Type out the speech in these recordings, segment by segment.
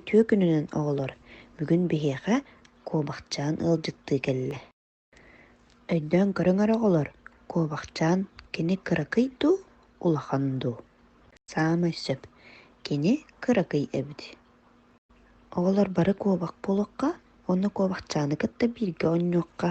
Тыа күнүнэн оҕолор, бүгүн биһиэхэ куобахчаан ыалдьыттыы кэллэ. Өйдөөн көрүҥ оҕолор, куобахчаан кини кыракый дуу, улахан дуу? Саамай сөп, кини кыракый эбит. Оҕолор бары куобах буолуохха, уонна куобахчааны кытта бииргэ оонньуохха.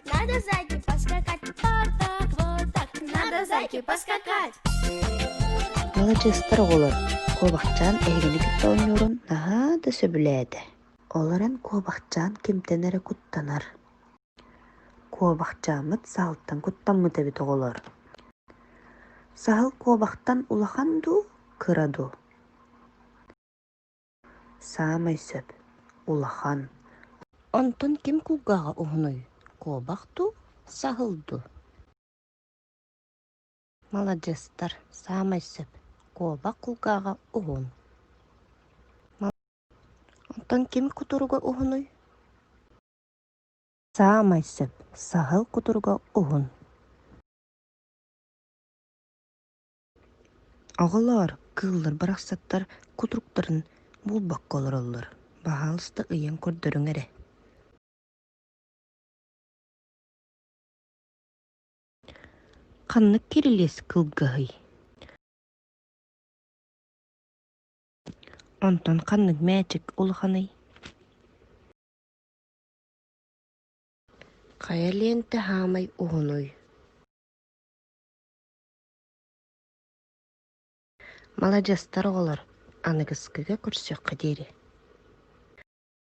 Надо зайки поскакать, то-то, вот так. Надо зайки поскакать. Маладьыастар оҕолор, Куобахчаан эһигини кытта оонньуурун наһаа да сөбүлээтэ. Олорон Куобахчаан кимтэн эрэ куттанар. Куобахчааммыт саалтан куттаммыт эбит оҕолор. Саһыл куобахтан улахан дуу, кыра дуу? Саамай сөп, улахан. Онтон ким кулгааҕа уһунуй, куобах дуу, саһыл дуу? Маладьыастар, саамай сөп, куобах кулгааҕа уһун. Онтон ким кутуруга уһунуй? Саамай сөп, саһыл кутуруга уһун. Оҕолоор, кыыллар барахсаттар кутуруктарын буолбакка олороллор, баһаалыста ыйан көрдөрүҥ эрэ Ханнык кирилиэс кылгаһый? Онтон ханнык мээчик улаханый? Хайа лиэнтэ хаамай уһунуй? маладьыастар оҕолор аныгыскыга көрсүөххэ диэри